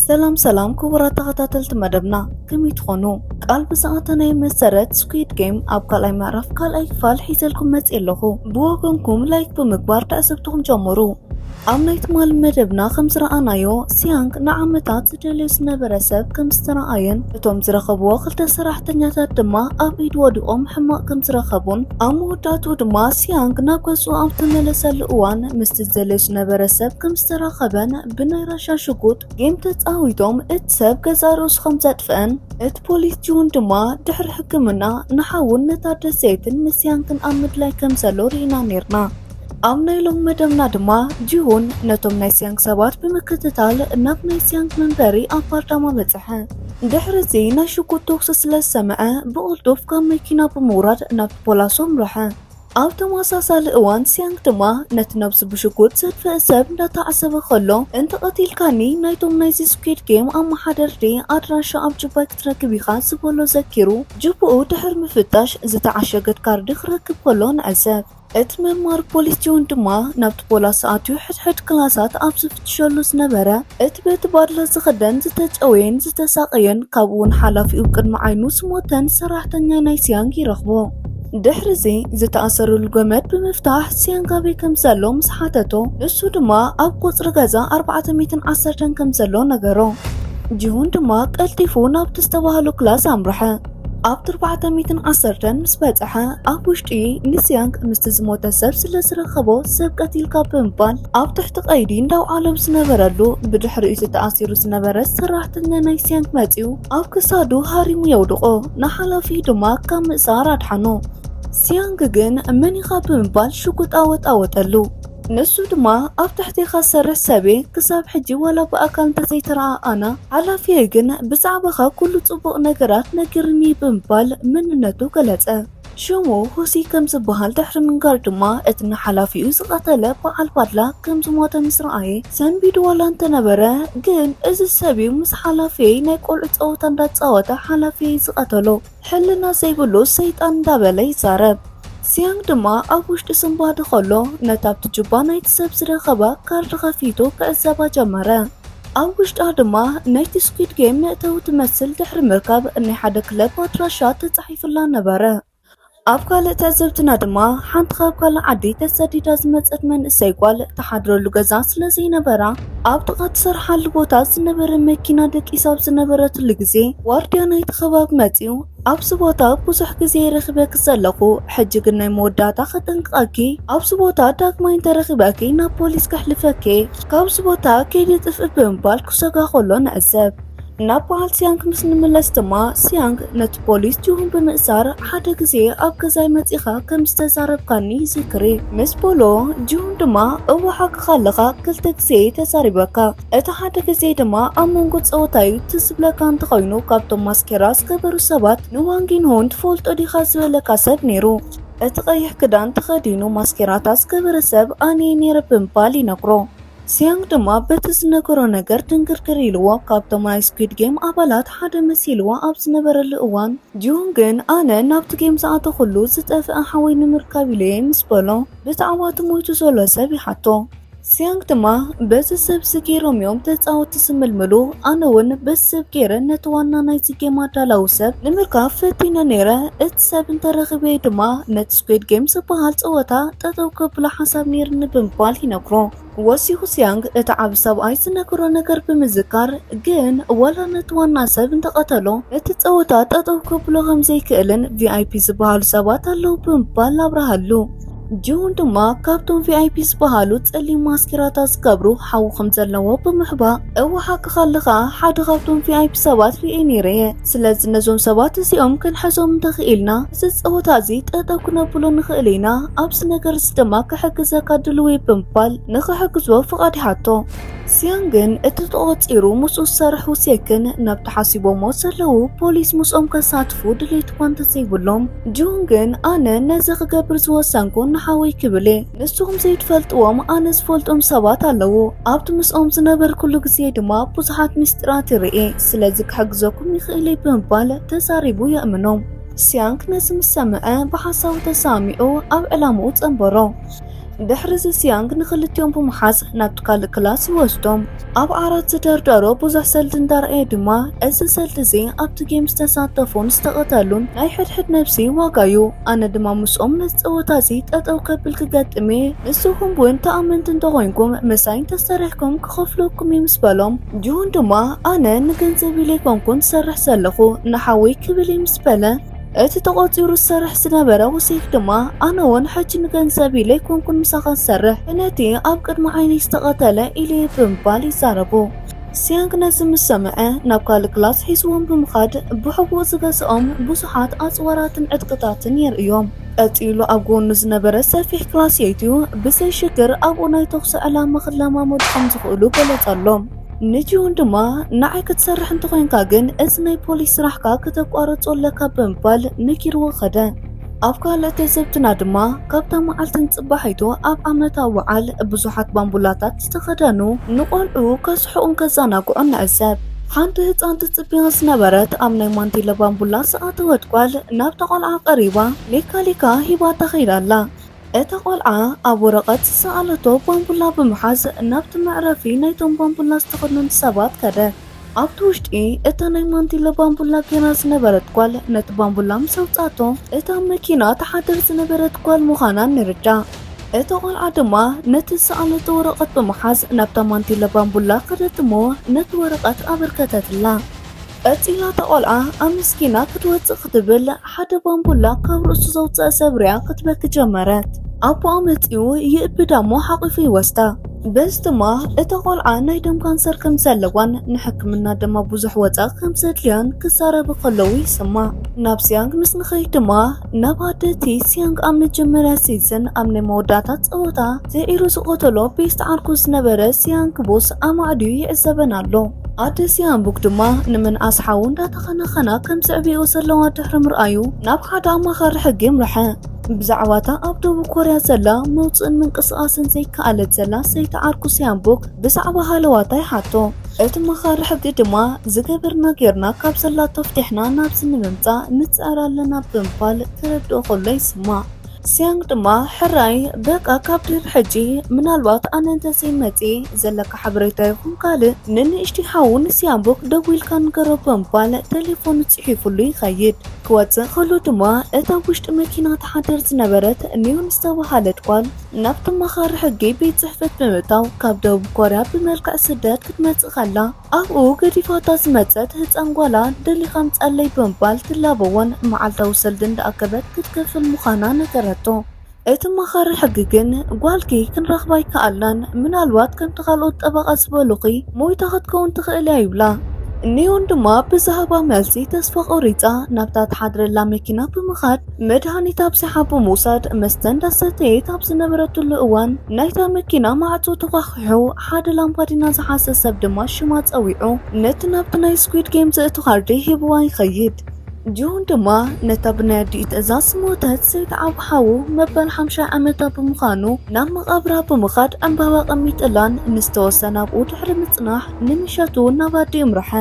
ሰላም ሰላም ክቡራት ተኸታተልቲ መደብና ከመይ ትኾኑ? ቃል ብዝኣተናዮ መሰረት ስኩዊድ ጌም ኣብ ካልኣይ ምዕራፍ ካልኣይ ክፋል ሒዘልኩም መፅእ ኣለኹ። ብወገንኩም ላይክ ብምግባር ትዕዝብትኹም ጀምሩ። ኣብ ናይ ትማሊ መደብና ከም ዝረኣናዮ ሲያንግ ንዓመታት ዝደልዮ ዝነበረ ሰብ ከም ዝተረኣየን እቶም ዝረኸብዎ ክልተ ሰራሕተኛታት ድማ ኣብ ኢድ ወዲቖም ሕማቕ ከም ዝረኸቡን ኣብ መወዳእትኡ ድማ ሲያንግ ናብ ገዝኡ ኣብ ዝተመለሰሉ እዋን ምስቲ ዝደልዮ ዝነበረ ሰብ ከም ዝተራኸበን ብናይ ራሻ ሽጉጥ ጌም ተጻዊቶም እቲ ሰብ ገዛእ ርእሱ ከም ዘጥፍእን እቲ ፖሊስ ጂውን ድማ ድሕሪ ሕክምና ንሓዉን ነታ ደሴትን ንሲያንግን ኣብ ምድላይ ከም ዘሎ ርኢና ኔርና። ኣብ ናይ ሎም መደብና ድማ ጂሁን ነቶም ናይ ሲያንግ ሰባት ብምክትታል ናብ ናይ ሲያንግ መንበሪ ኣብ ፓርዳማ በጽሐ። ድሕሪ እዚ ናይ ሽጉጥ ተኩሲ ስለ ዝሰምዐ ብቕልጡፍ ካብ መኪና ብምውራድ ናብ ፖላሱ ኣምርሐ። ኣብ ተመሳሳሊ እዋን ሲያንግ ድማ ነቲ ነብሱ ብሽጉጥ ዘጥፍእ ሰብ እንዳተዓዘበ ከሎ እንተቐቲልካኒ ናይቶም ናይዚ ስኩድ ጌም ኣመሓደርቲ ኣድራሻ ኣብ ጁባይ ክትረክብ ኢኻ ዝበሎ ዘኪሩ ጁብኡ ድሕሪ ምፍታሽ ዝተዓሸገት ካርዲ ክረክብ ከሎ ንዕዘብ። እቲ መማር ፖሊስ ጆን ድማ ናብቲ ፖላስ ኣትዩ ሕድሕድ ክላሳት ኣብ ዝፍትሸሉ ዝነበረ እቲ በቲ ባድለ ዝኽደን ዝተጨወየን ዝተሳቐየን ካብኡውን ሓላፊኡ ቅድሚ ዓይኑ ዝሞተን ሰራሕተኛ ናይ ሲያንግ ይረኽቦ። ድሕሪዚ ዝተኣሰሩሉ ገመድ ብምፍታሕ ሲያንግ ኣበይ ከም ዘሎ ምስ ሓተቶ ንሱ ድማ ኣብ ቁጽሪ ገዛ ኣርባዕተ ሚእትን ዓሰርተን ከም ዘሎ ነገሮ። ጂሁን ድማ ቀልጢፉ ናብቲ ዝተባህሎ ክላስ ኣምርሐ። ኣብ ትርባዕተ ሚትን ዓሰርተን ምስ በጽሐ ኣብ ውሽጢ ሊስያንግ ምስቲ ዝሞተ ሰብ ስለ ዝረኸቦ ሰብ ቀቲልካ ብምባል ኣብ ትሕቲ ቀይዲ እንዳውዓሎ ብዝነበረሉ ብድሕሪ እቲ ተኣሲሩ ዝነበረ ሰራሕተኛ ናይ ሲያንግ መጺኡ ኣብ ክሳዱ ሃሪሙ የውድቆ ንሓላፊ ድማ ካብ ምእሳር ኣድሓኖ ሲያንግ ግን መን ኢኻ ብምባል ሽጉጥ ኣወጣወጠሉ ንሱ ድማ ኣብ ትሕቴኻ ዝሰርሕ ሰብ'የ፣ ክሳብ ሕጂ ዋላ ብኣካል እንተዘይተረኣኣና፣ ሓላፊየይ ግን ብዛዕባኻ ኩሉ ጽቡቕ ነገራት ነጊሩኒ ብምባል መንነቱ ገለጸ። ሽሙ ሁሲ ከም ዝበሃል ድሕሪ ምንጋር ድማ እቲ ንሓላፊኡ ዝቐተለ በዓል ባድላ ከም ዝሞተ ምስ ረኣየ ሰንቢዱ ዋላ እንተነበረ ግን እዚ ሰብ'ዩ ምስ ሓላፊየይ ናይ ቆልዑ ጸወታ እንዳተጻወተ ሓላፊየይ ዝቐተሎ። ሕልና ዘይብሉ ሰይጣን እንዳበለ ይዛረብ። ሲያንግ ድማ ኣብ ውሽጢ ስንባዲ ከሎ ነታ ኣብቲ ጁባ ናይቲ ሰብ ዝረኸባ ካርድ ከፊቱ ክዕዘባ ጀመረ። ኣብ ውሽጣ ድማ ነይቲ ስኩድ ጌም መእተዊ ትመስል ድሕሪ ምርካብ ናይ ሓደ ክለብ ኣድራሻ ተጻሒፉላ ነበረ። ኣብ ካልእ ትዕዝብትና ድማ ሓንቲ ካብ ካልእ ዓዲ ተሰዲዳ ዝመጸት መንእሰይ ጓል ትሓድረሉ ገዛ ስለ ዘይነበራ ኣብ ጥቓ ትሰርሓሉ ቦታ ዝነበረ መኪና ደቂሳ ኣብ ዝነበረትሉ ግዜ ዋርድያ ናይቲ ከባቢ መጺኡ ኣብዚ ቦታ ብዙሕ ግዜ ረኺበኪ ዘለኹ፣ ሕጂ ግን ናይ መወዳእታ ከጠንቅቐኪ፣ ኣብዚ ቦታ ዳግማይ እንተረኺበኪ ናብ ፖሊስ ከሕልፈኪ እየ፣ ካብዚ ቦታ ከይዲ ጥፍእ ብምባል ክሰጋ ከሎ ንዕዘብ። ናብ በዓል ሲያንግ ምስ እንምለስ ድማ ሲያንግ ነቲ ፖሊስ ጁሁን ብምእሳር ሓደ ግዜ ኣብ ገዛይ መጺኻ ከም ዝተዛረብካኒ ይዝክሪ ምስ በሎ ጁሁን ድማ እወ ሓቅኻ ኣለኻ ክልተ ግዜ ተዛሪበካ እቲ ሓደ ግዜ ድማ ኣብ መንጎ ጸወታ እዩ ትዝብለካ እንተኾይኑ ካብቶም ማስኬራ ዝገበሩ ሰባት ንዋንጊንሆን ትፈልጦ ዲኻ ዝበለካ ሰብ ነይሩ እቲ ቀይሕ ክዳን ተኸዲኑ ማስኬራታት ዝገበረ ሰብ ኣነ ነይረ ብምባል ይነግሮ ሲያንግ ድማ በቲ ዝነገሮ ነገር ድንግርግር ኢልዎ ካብቶም ናይ ስኩድ ጌም ኣባላት ሓደ መሲልዎ ኣብ ዝነበረሉ እዋን ጂሁንግን ኣነ ናብቲ ጌም ዝኣተኹሉ ዝጠፍኣ ሓወይ ንምርካብ ኢለየ ምስ በሎ ብተዓዋቲ ሞይቱ ዘሎ ሰብ ይሓቶ። ሲያንግ ድማ በዚ ሰብዚ ጌሮም እዮም ተጻወቲ ዝምልምሉ ኣነ እውን በዚ ሰብ ጌረ ነቲ ዋና ናይዚ ጌም ኣዳላዊ ሰብ ንምርካብ ፈቲነ ነይረ እቲ ሰብ እንተረኺበየ ድማ ነቲ ስኩድ ጌም ዝበሃል ጸወታ ጠጠው ከብሎ ሓሳብ ነይርኒ ብምባል ይነግሮ። ወሲ ሁሲያንግ እቲ ዓቢ ሰብኣይ ዝነገሮ ነገር ብምዝካር ግን ዋላ ነቲ ዋና ሰብ እንተቐተሎ እቲ ጸወታ ጠጠው ከብሎ ከም ዘይክእልን ቪኣይፒ ዝበሃሉ ሰባት ኣለው ብምባል ኣብርሃሉ። ጂሁን ድማ ካብቶም ቪኣይፒ ዝበሃሉ ጸሊም ማስኬራታት ዝገብሩ ሓዊ ከም ዘለዎ ብምሕባእ እወ ሓቅኻ ኣለኻ ሓደ ካብቶም ቪኣይፒ ሰባት ርእየ ነይረ እየ ስለዚ ነዞም ሰባት እዚኦም ክንሕዞም እንተ ኽኢልና እዚ ጸወታ እዚ ጠጠው ክነብሎ ንኽእል ኢና፣ ኣብዚ ነገር እዚ ድማ ክሕግዘካ ድሉው እየ ብምባል ንኽሕግዝዎ ፍቓድ ይሓቶ። ሲዮን ግን እቲ ተቖጺሩ ምስኡ ዝሰርሑ ሴክን ናብቲ ሓሲቦምዎ ዘለዉ ፖሊስ ምስኦም ከሳትፉ ድሌት'ኳ እንተ ዘይብሎም፣ ጂሁን ግን ኣነ ነዚ ክገብር ዝወሰንኩ ንሓወይ ክብል እየ፣ ንስኹም ዘይትፈልጥዎም ኣነ ዝፈልጦም ሰባት ኣለዉ፣ ኣብቲ ምስኦም ዝነበርኩሉ ግዜ ድማ ብዙሓት ምስጢራት ይርኢ፣ ስለዚ ክሕግዘኩም ይኽእል እዩ ብምባል ተዛሪቡ የእምኖ። ሲያንግ ነዚ ምስ ሰምዐ ብሓሳቡ ተሰማሚዑ ኣብ ዕላምኡ ጸንበሮ። ድሕርዚ ሲያንግ ንኽልቲኦም ብምሓዝ ናብቲ ካልእ ክላስ ይወስዶም። ኣብ ዓራት ዝደርደሮ ብዙሕ ሰልዲ እንዳርኣየ ድማ እዚ ሰልዲ እዚ ኣብቲ ጌም ዝተሳተፉን ዝተቐተሉን ናይ ሕድሕድ ነብሲ ዋጋ እዩ። ኣነ ድማ ምስኦም ነዚ ጸወታ እዚ ጠጠው ከብል ክገጥም እየ። ንስኹም እውን ተኣመንቲ እንተኾይንኩም ምሳይ እንተሰሪሕኩም ክኸፍለኩም እዩ ምስ በሎም፣ ጅሁን ድማ ኣነ ንገንዘብ ኢለ ኣይኮንኩን ዝሰርሕ ዘለኹ ንሓወይ ክብል እየ ምስ በለ፣ እቲ ተቖጺሩ ዝሰርሕ ዝነበረ ሁሴክ ድማ ኣነ ውን ሕጂ ንገንዘብ ኢለ ኣይኮንኩን ምሳኻ ዝሰርሕ ነቲ ኣብ ቅድሚ ዓይነይ ዝተቐተለ ኢለ እየ ብምባል ይዛረቡ። ሲያንግ ነዚ ምስ ሰምዐ ናብ ካልእ ክላስ ሒዝዎም ብምኻድ ብሕቡእ ዝገዝኦም ብዙሓት ኣጽዋራትን ዕጥቅታትን የርእዮም። ቀጺሉ ኣብ ጎኑ ዝነበረ ሰፊሕ ክላስ የእትዩ ብዘይ ሽግር ኣብኡ ናይ ተኹሲ ዕላማ ክለማመዱ ከም ዝኽእሉ ገለጸሎም። ንጂሁን ድማ ንዓይ ክትሰርሕ እንተኾይንካ ግን እዚ ናይ ፖሊስ ስራሕካ ክተቋርጾ ኣለካ ብምባል ነጊርዎ ከደ። ኣብ ካልእ ትዝብትና ድማ ካብታ መዓልቲ ንጽባሒቱ ኣብ ዓመታዊ በዓል ብዙሓት ባምቡላታት ክዳን ዝተኸደኑ ንቖልዑ ከስሕቑን ከዘናግዑን ንዕዘብ። ሓንቲ ህጻን ትጽበያ ዝነበረት ኣብ ናይ ማንቲለ ባምቡላ ዝኣተወት ጓል ናብታ ቆልዓ ቀሪባ ሜካሊካ ሂባታ ከይዳ ኣላ። እታ ቆልዓ ኣብ ወረቐት ዝሰኣለቶ ባምቡላ ብምሓዝ ናብቲ መዕረፊ ናይቶም ባምቡላ ዝተኸድኑን ሰባት ከደት። ኣብቲ ውሽጢ እታ ናይ ማንቲለ ባምቡላ ጌራ ዝነበረት ጓል ነቲ ባምቡላ ምስ ኣውጽኣቶ እታ ኣብ መኪና ትሓድር ዝነበረት ጓል ምዃና ንርዳእ። እታ ቖልዓ ድማ ነቲ ዝሰኣለቶ ወረቐት ብምሓዝ ናብታ ማንቲለ ባምቡላ ከደት እሞ ነቲ ወረቐት ኣበርከተትላ። ቀጺላ እታ ቖልዓ ኣመስጊና ክትወጽእ ክትብል ሓደ ባምቡላ ካብ ርእሱ ዘውፀእ ሰብ ሪኣ ክትበኪ ጀመረት። ኣቦኣ መፂኡ ይእብዳ እሞ ሓቒፉ ይወስዳ። በዚ ድማ እታ ቆልዓ ናይ ደም ካንሰር ከም ዘለዋን ንሕክምና ድማ ብዙሕ ወፃኢ ከም ዘድልያን ክዛረቡ ከለዉ ይስማዕ። ናብ ሲያንግ ምስ ንኸይድ ድማ ናብ ኣደ እቲ ሲያንግ ኣብ መጀመርያ ሲዝን ኣብ ናይ መወዳእታ ፀወታ ዘዒሩ ዝቐተሎ ቤስት ዓርኩ ዝነበረ ሲያንግ ቦስ ኣማዕድዩ ይዕዘበን ኣሎ። ኣደሲ ኣምቡግ ድማ ንምንኣስ ሓዉ እንዳተኸናኸና ከም ዘዕብየኦ ዘለዋ ድሕሪ ምርኣዩ ናብ ሓደ ኣማኻሪ ሕጊ የምርሐ። ብዛዕባ እታ ኣብ ደቡብ ኮርያ ዘላ መውፅእን ምንቅስቓስን ዘይከኣለት ዘላ ሰይቲ ዓርኩ ሲያምቡክ ብዛዕባ ሃለዋታ ይሓቶ። እቲ መኻሪ ሕጊ ድማ ዝገበርና ጌርና ካብ ዘላቶ ፍቲሕና ናብዚ ንምምፃእ ንፅዕር ኣለና ብምባል ክረድኦ ከሎ ይስማዕ። ሲያንግ ድማ ሕራይ በቃ ካብ ድር ሕጂ ምናልባት ኣነ እንተዘይ መጽ ዘለካ ሓበሬታ ይኹን ካልእ ንንእሽቲ ሓው ንሲያምቡክ ደዊልካ ንገሮ ብምባል ቴሌፎኑ ጽሒፉሉ ይኸይድ ክወጽእ ከሎ ድማ እታ ውሽጢ መኪና ተሓድር ዝነበረት ኒዮን ዝተባሃለት ጓል ናብቲ መኻሪ ሕጊ ቤት ጽሕፈት ብምእታው ካብ ደቡብ ኮርያ ብመልክዕ ስደት ክትመጽእ ከላ ኣብኡ ገዲፋታ ዝመጸት ህጻን ጓላ ደሊኻ ምጻለይ ብምባል ትላበዎን መዓልታዊ ሰልዲ እንዳኣከበት ክትከፍል ምዃና ነገረቶ። እቲ ኣማኻሪ ሕጊ ግን ጓልኪ ክንረኽባ ኣይከኣልናን፣ ምናልባት ከምቲ ካልኦት ጠበቓ ዝበሉኺ ሞይታ ክትከውን ትኽእል እያ ይብላ። ኒዮን ድማ ብዝሃባ መልሲ ተስፋ ቆሪጻ ናብታ ትሓድረላ መኪና ብምኻድ መድሃኒት ኣብዚሓ ብምውሳድ መስተ እንዳሰተየት ኣብ ዝነበረትሉ እዋን ናይታ መኪና ማዕጾ ተዃሕኲሑ። ኣጥቂዑ ሓደ ላምፓዲና ዝሓዘ ሰብ ድማ ሽማ ጸዊዑ ነቲ ናብቲ ናይ ስኩድ ጌም ዘእቱ ካርዲ ሂብዋ ይኸይድ። ጆን ድማ ነታ ብናይ ኣዲኡ ትእዛዝ ሞተት ዘይትዓብ ሓዉ መበል ሓምሻይ ዓመታ ብምዃኑ ናብ መቓብራ ብምኻድ ዕምባባ ኣቐሚጥላን ንዝተወሰነ ኣብኡ ድሕሪ ምጽናሕ ንምሸቱ ናብ ኣዲኡ ኣምርሐ።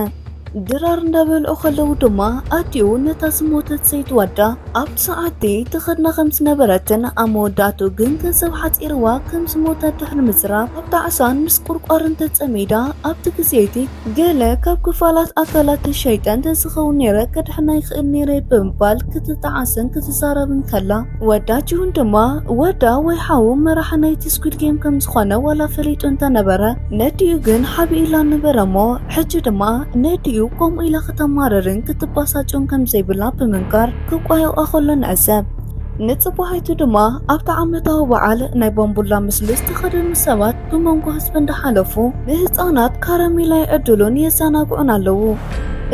ድራር እንዳበልዑ ከለዉ ድማ ኣዲኡ ነታ ዝሞተት ሰይቲ ዋዳ ኣብቲ ሰዓትቲ ትኸድና ከም ዝነበረትን ኣብ መወዳእትኡ ግን ገንዘብ ሓጺርዋ ከም ዝሞተት ድሕሪ ምዝራብ ኣብ ጣዕሳን ምስቁርቋርን ተጸሚዳ ኣብቲ ግዜ'ቲ ገለ ካብ ክፋላት ኣካላተይ ሸይጠ እንተዝኸውን ነይረ ከድሕና ይኽእል ነይረ ብምባል ክትጣዓስን ክትዛረብን ከላ ወዳ ጂሁን ድማ ወዳ ወይ ሓዉ መራሒ ናይቲ ስኲድ ጌም ከም ዝኾነ ዋላ ፈሊጡ እንተነበረ ነዲኡ ግን ሓቢኡላ ነበረ'ሞ ሕጂ ድማ ነዲኡ ከምኡ ኢላ ክተማርርን ክትባሳጭን ከም ዘይብላ ብምንካር ክቋየቋ ከሎ ንዕዘብ። ንጽባሒቱ ድማ ኣብቲ ዓመታዊ በዓል ናይ ባምቡላ ምስሊ ዝተኸደኑ ሰባት ብመንጎ ህዝቢ እንዳሓለፉ ንህጻናት ካራሜላ ይዕድሉን የዘናግዑን ኣለዉ።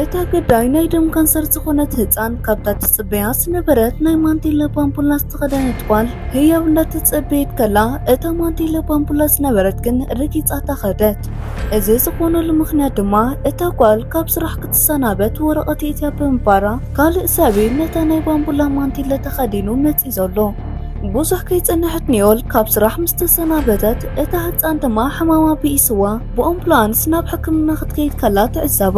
እታ ግዳይ ናይ ደም ካንሰር ዝኾነት ህጻን ካብታ ትጽበያ ዝነበረት ናይ ማንቴለ ባምቡላ ዝተኸደነት ጓል ህያብ እንዳተጸበየት ከላ እታ ማንቴለ ባምቡላ ዝነበረት ግን ረጊጻታ ከደት። እዚ ዝኾነሉ ምኽንያት ድማ እታ ጓል ካብ ስራሕ ክትሰናበት ወረቐት የእትያ ብምባራ ካልእ ሰብ'ዩ ነታ ናይ ባምቡላ ማንቲለ ተኸዲኑ መጺኡ ዘሎ። ብዙሕ ከይጸንሐት ኒዮል ካብ ስራሕ ምስ ተሰናበተት፣ እታ ህጻን ድማ ሕማማ ብኢስዋ ብኦምቡላንስ ናብ ሕክምና ክትከይድ ከላ ትዕዘባ።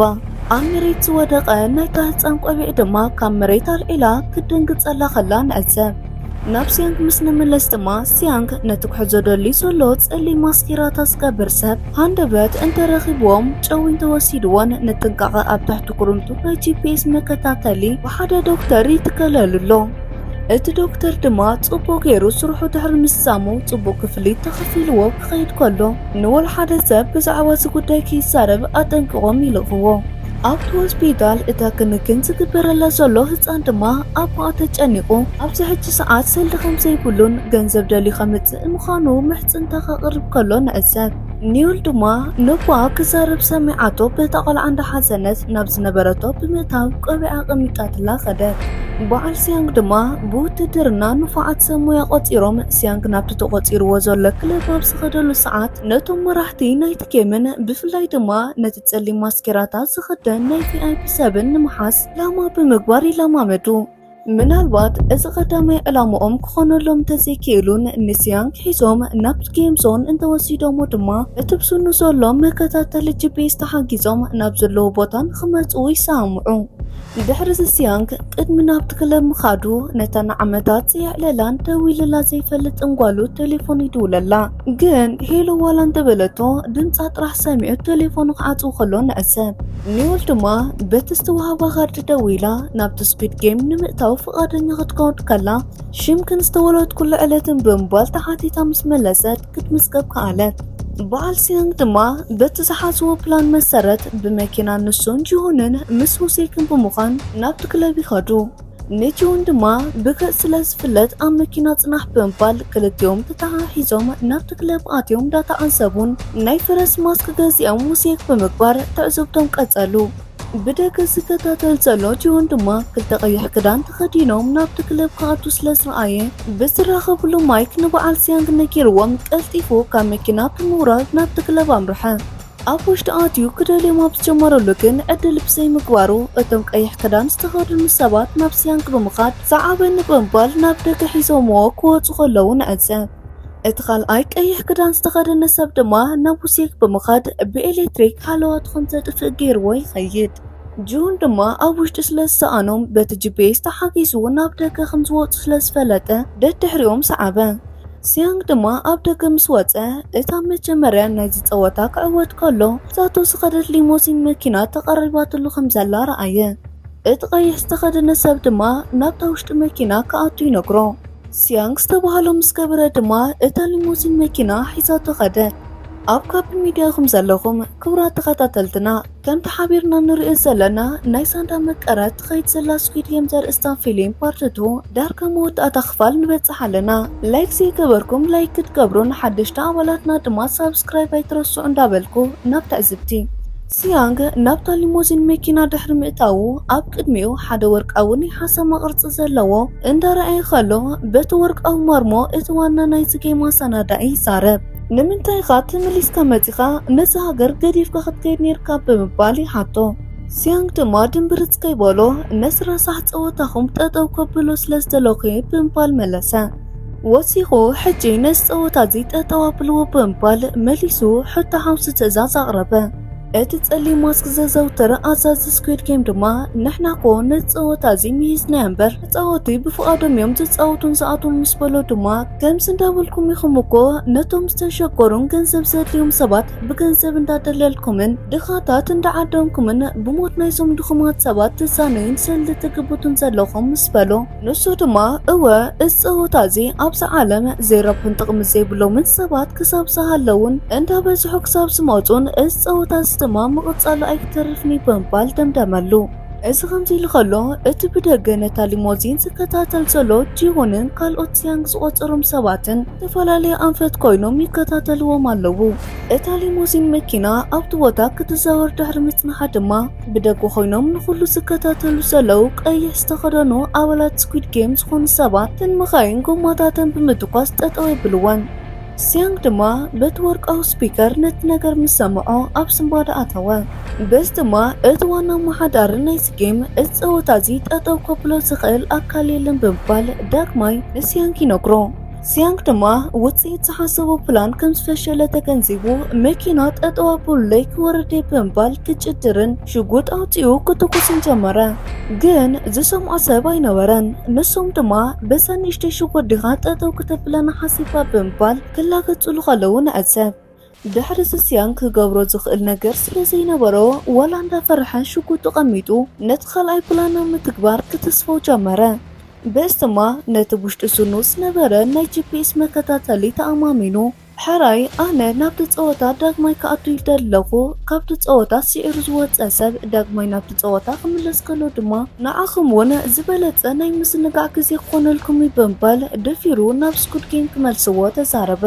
ኣብ መሬት ዝወደቐ ናይታ ህጻን ቆቢዕ ድማ ካብ መሬት ኣልዒላ ክትድንግጸላ ከላ ንዕዘብ። ናብ ሲያንግ ምስ ንምለስ ድማ ሲያንግ ነቲ ክሕዞ ደልዩ ዘሎ ጸሊም ማስኬራታ ዝገብር ሰብ ሃንደበት እንተረኺብዎም ጨው እንተወሲድዎን ንጥንቃቐ ኣብ ትሕቲ ኩርምቱ ናይ ጂፒኤስ መከታተሊ ብሓደ ዶክተር ይትከለሉ ኣሎ። እቲ ዶክተር ድማ ጽቡቕ ገይሩ ስርሑ ድሕሪ ምስጻሙ ጽቡቕ ክፍሊት ተኸፊልዎ ክኸይድ ከሎ ንወልሓደ ሰብ ብዛዕባ እዚ ጉዳይ ከይዛረብ ኣጠንቂቖም ይልእኽዎ። ኣብቲ ሆስፒታል እታ ክንክን ዝግበረላ ዘሎ ህፃን ድማ ኣቦኣ ተጨኒቑ ኣብዚ ሕጂ ሰዓት ሰልዲ ከም ዘይብሉን ገንዘብ ደልዩ ከምፅእ ምዃኑ ምሕፅንታ ከቕርብ ከሎ ንዕዘብ። ኒውል ድማ ነቦኣ ክዛረብ ሰሚዓቶ በታ ቆልዓ እንዳሓዘነት ናብ ዝነበረቶ ብምእታው ቆቢዓ ኣቐሚጣትላ ከደት። በዓል ሲያንግ ድማ ብውትድርና ንፉዓት ሰብ ሞያ ቆፂሮም ሲያንግ ናብቲ ተቆፂርዎ ዘሎ ክለብ ኣብ ዝኸደሉ ሰዓት ነቶም መራሕቲ ናይቲ ጌምን ብፍላይ ድማ ነቲ ጸሊም ማስኬራታት ዝኽደን ናይ ቪኣይፒ ሰብን ንምሓዝ ላማ ብምግባር ይለማመዱ። ምናልባት እዚ ቀዳማይ ዕላምኦም ክኾነሎም እንተዘይክኢሉን ምስ ያንግ ሒዞም ናብ ጌም ዞን እንተወሲዶሞ ድማ እቲ ብስኑ ዘሎ መከታተሊ ጂፒኤስ ተሓጊዞም ናብ ዘለዎ ቦታ ንኽመጽኡ ይሰማምዑ። ድሕሪዚ ያንግ ቅድሚ ናብቲ ክለብ ምኻዱ ነታ ንዓመታት ዘየዕለላን ደዊሉላ ዘይፈልጥን ጓሉ ቴሌፎን ይድውለላ። ግን ሄሎ ዋላ እንተበለቶ ድምፃ ጥራሕ ሰሚዑ ቴሌፎኑ ክዓፅው ከሎ ንዕዘብ። ኒውል ድማ በቲ ዝተዋህባ ካርድ ደዊላ ናብቲ ስኩድ ጌም ንምእታው ፍቓደኛ ክትከውን ከላ ሽምክን ዝተወለድኩሉ ዕለትን ብምባል ተሓቲታ ምስ መለሰት ክትምዝገብ ከኣለት። በዓል ሲያንግ ድማ በቲ ዝሓዝዎ ፕላን መሰረት ብመኪና ንሱን ጂሁንን ምስ ሁሴክን ብምዃን ናብቲ ክለብ ይኸዱ። ንጂውን ድማ ብክእ ስለ ዝፍለጥ ኣብ መኪና ጽናሕ ብምባል ክልቲኦም ተተሓሒዞም ናብቲ ክለብ ኣትዮም ዳተዓዘቡን ናይ ፈረስ ማስክ ገዚኦም ውሴክ ብምግባር ትዕዝብቶም ቀጸሉ። ብደገ ዝከታተል ዘሎ ጂውን ድማ ክልተ ቀይሕ ክዳን ተኸዲኖም ናብቲ ክለብ ክኣቱ ስለ ዝረኣየ ብዝራኸብሉ ማይክ ንበዓል ሲያንግ ነጊርዎም ቀልጢፉ ካብ መኪና ብምውራድ ናብቲ ክለብ ኣምርሐ። ኣብ ውሽጢ ኣትዩ ክደልዮም ኣብ ዝጀመረሉ ግን ዕድል ብዘይምግባሩ እቶም ቀይሕ ክዳን ዝተኸድኑ ሰባት ናብ ሲያንግ ብምኻድ ሰዓበኒ ብምባል ናብ ደገ ሒዞምዎ ክወፁ ከለዉ ንዕዘብ። እቲ ካልኣይ ቀይሕ ክዳን ዝተኸደነ ሰብ ድማ ናብ ውሴክ ብምኻድ ብኤሌክትሪክ ሃለዋትኹም ዘጥፍእ ገይርዎ ይኸይድ። ጁሁን ድማ ኣብ ውሽጢ ስለ ዝሰኣኖም በቲ ጂፒኤስ ተሓጊዙ ናብ ደገ ከምዝወፁ ስለ ዝፈለጠ ደድሕሪኦም ሰዓበ። ሲያንግ ድማ ኣብ ደገ ምስ ወጸ፣ እታ መጀመርያ ናይዚ ጸወታ ክዕወት ከሎ ሒዛቶ ዝኸደት ሊሞሲን መኪና ተቐሪባትሉ ከም ዘላ ረኣየ። እቲ ቀይሕ ዝተኸደነ ሰብ ድማ ናብታ ውሽጢ መኪና ክኣቱ ይነግሮ። ሲያንግ ዝተባህሎ ምስ ገበረ ድማ እታ ሊሞሲን መኪና ሒዛቶ ከደት። ኣብ ካፕ ሚድያ ኢኹም ዘለኹም ክቡራት ተኸታተልትና። ከምቲ ሓቢርና ንርእዮ ዘለና ናይ ሳንዳ መቀረት ትኸይድ ዘላ ስኩድ ጌም ዘርእስታ ፊሊም ፓርት ቱ ዳርጋ መወዳእታ ክፋል ንበጽሕ ኣለና ላይክ ዘይገበርኩም ላይክ ክትገብሩ ንሓደሽቲ ኣባላትና ድማ ሳብስክራይብ ኣይትረስዑ እንዳበልኩ ናብ ትዕዝብቲ ሲያንግ ናብታ ሊሞዚን መኪና ድሕሪ ምእታዉ ኣብ ቅድሚኡ ሓደ ወርቃዊ ናይ ሓሰማ ቅርጺ ዘለዎ እንዳረኣየ ከሎ በቲ ወርቃዊ ማርሞ እቲ ዋና ናይዚ ጌም ኣሳናዳኢ ይዛረብ። ንምንታይ ኢኻ ተመሊስካ መጺኻ ነዚ ሃገር ገዲፍካ ክትከይድ ነይርካ ብምባል ይሓቶ። ሲያንግ ድማ ድምብርጽ ከይበሎ ነዚ ረሳሕ ጸወታኹም ጠጠው ከብሎ ስለ ዝደለኹ'የ ብምባል መለሰ። ወሲኹ ሕጂ ነዚ ጸወታ እዚ ጠጠው ኣብልዎ ብምባል መሊሱ ሕቶ ሓምሲ ትእዛዝ ኣቕረበ። እቲ ጸሊም ማስክ ዘዘውትር ኣዛዚ ስኲድ ጌም ድማ ንሕና'ኮ ነዚ ጸወታ እዚ ምሂዝናዮ እምበር ተጻወቲ ብፍቓዶም እዮም ዝጻወቱን ዝኣትዉን ምስ በሎ ድማ ከምዚ እንዳበልኩም ኢኹም እኮ ነቶም ዝተሸገሩን ገንዘብ ዘድልዮም ሰባት ብገንዘብ እንዳደለልኩምን ድኻታት እንዳዓደንኩምን ብሞት ናይዞም ድኹማት ሰባት ትዛነዩን ሰልዲ ትግብቱን ዘለኹም ምስ በሎ ንሱ ድማ እወ እዚ ጸወታ እዚ ኣብዚ ዓለም ዘይረብሑን ጥቕሚ ዘይብሎምን ሰባት ክሳብ ዝሃለዉን እንዳበዝሑ ክሳብ ዝመጹን እዚ ጸወታ እዚ ድማ ምቕጻሉ ኣይክተርፍን'ዩ ብምባል ደምደመሉ። እዚ ከምዚሉ ከሎ እቲ ብደገ ነታ ሊሞዚን ዝከታተል ዘሎ ጂሁንን ካልኦት ሲያንግ ዝቖጸሮም ሰባትን ዝተፈላለየ ኣንፈት ኮይኖም ይከታተልዎም ኣለዉ። እታ ሊሞዚን መኪና ኣብቲ ቦታ ክትዛወር ድሕሪ ምጽንሓ ድማ ብደገ ኮይኖም ንኹሉ ዝከታተሉ ዘለዉ ቀይሕ ዝተኸደኑ ኣባላት ስኲድ ጌም ዝኾኑ ሰባት ተን መኻይን ጎማታተን ብምትኳስ ጠጠው የብልወን። ሲያንግ ድማ በቲ ወርቃዊ ስፒከር ነቲ ነገር ምስ ሰምዖ ኣብ ስንባደ ኣተወ። በዚ ድማ እቲ ዋና ኣመሓዳሪ ናይዚ ጌም እዚ ጸወታ እዚ ጠጠው ከብሎ ዝኽእል ኣካል የለን ብምባል ዳግማይ ንሲያንግ ይነግሮ። ሲያንግ ድማ ውጽኢት ዝሓሰቦ ፕላን ከም ዝፈሸለ ተገንዚቡ መኪና ጠጠው ኣብሉለይ ክወርድ እየ ብምባል ክጭድርን ሽጉጥ ኣውጺኡ ክትኩስን ጀመረ፣ ግን ዝሰምዖ ሰብ ኣይነበረን። ንሶም ድማ በዛ ንእሽተይ ሽጉጥ ዲኻ ጠጠው ክተብለና ሓሲብካ ብምባል ክላገጹሉ ከለዉ ንዕዘብ። ድሕሪ ስስያን ክገብሮ ዝኽእል ነገር ስለ ዘይነበሮ ዋላ እንዳፈርሐ ሽጉጡ ቀሚጡ ነቲ ካልኣይ ፕላን ናብ ምትግባር ክትስፎው ጀመረ። በስቲማ ነቲ ብውሽጢ ስኑ ዝነበረ ናይ ጂፒኤስ መከታተሊ ተኣማሚኑ፣ ሕራይ ኣነ ናብቲ ጸወታ ዳግማይ ክኣቱ ይደሊ ኣለኹ፣ ካብቲ ጸወታ ስዒሩ ዝወጸ ሰብ ዳግማይ ናብቲ ጸወታ ክምለስ ከሎ ድማ ንዓኹም እውን ዝበለጸ ናይ ምስንጋዕ ግዜ ክኾነልኩም እዩ ብምባል ደፊሩ ናብ ስኩድ ጌም ክመልስዎ ተዛረበ።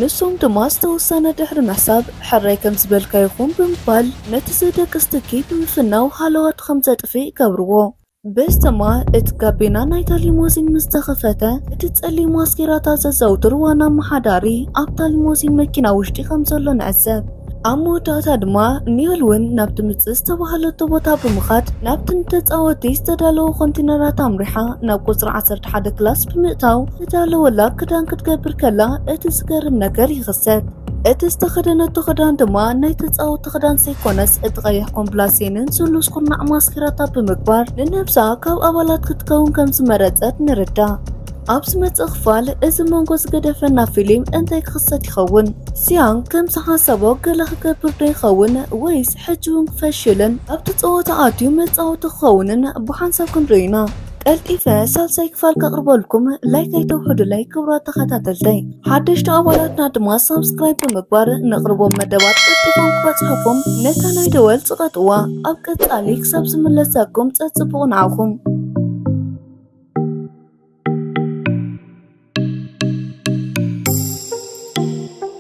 ንሶም ድማ ዝተወሰነ ድሕሪ ምሕሳብ ሕራይ ከም ዝበልካዮ ይኹን ብምባል ነቲ ዘደቅስ ትኪት ምፍናው ሃለዋቱ ከም ዘጥፍእ ይገብርዎ። በስተማ እቲ ጋቤና ናይታ ሊሞዚን ምስ ተኸፈተ፣ እቲ ጸሊም ማስኬራታት ዘዘውትር ዋና ኣመሓዳሪ ኣብታ ሊሞዚን መኪና ውሽጢ ከም ዘሎ ንዕዘብ። ኣብ መወዳእታ ድማ ኒዮል እውን ናብቲ ምጽእ ዝተባህለቶ ቦታ ብምኻድ ናብቲ ንተጻወትቲ ዝተዳለወ ኮንቲነራት ኣምሪሓ ናብ ቁጽሪ ዓሰርተ ሓደ ክላስ ብምእታው ዝተዳለወላ ክዳን ክትገብር ከላ እቲ ዝገርም ነገር ይኽሰት። እቲ ዝተኸደነቶ ክዳን ድማ ናይ ተፃወቲ ክዳን ዘይኮነስ እቲ ቀይሕ ኮምፕላሴንን ስሉስ ኩርናዕ ማስኪራታ ብምግባር ንነብሳ ካብ ኣባላት ክትከውን ከም ዝመረፀት ንርዳእ። ኣብ ዝመጽእ ክፋል እዚ መንጎ ዝገደፈና ፊልም እንታይ ክኽሰት ይኸውን? ሲያንግ ከም ዝሓሰቦ ገለ ክገብር ዶ ይኸውን ወይስ ሕጂ እውን ክፈሽልን ኣብቲ ጸወታ ኣትዩ መጻወቲ ክኸውንን ብሓንሳብ ክንሪኦ ኢና። ቀልጢፈ ሳልሳይ ክፋል ከቕርበልኩም ላይክ ኣይተውሕዱለይ ክብራት ተኸታተልተይ ሓደሽቲ ኣባላትና ድማ ሳብስክራይብ ብምግባር ነቕርቦም መደባት ቀልጢፎም ክበፅሐኹም ነታ ናይ ደወል ፅቐጥዋ ኣብ ቀፃሊ ክሳብ ዝምለሰኩም ፀፅቡቕ ንዓኹም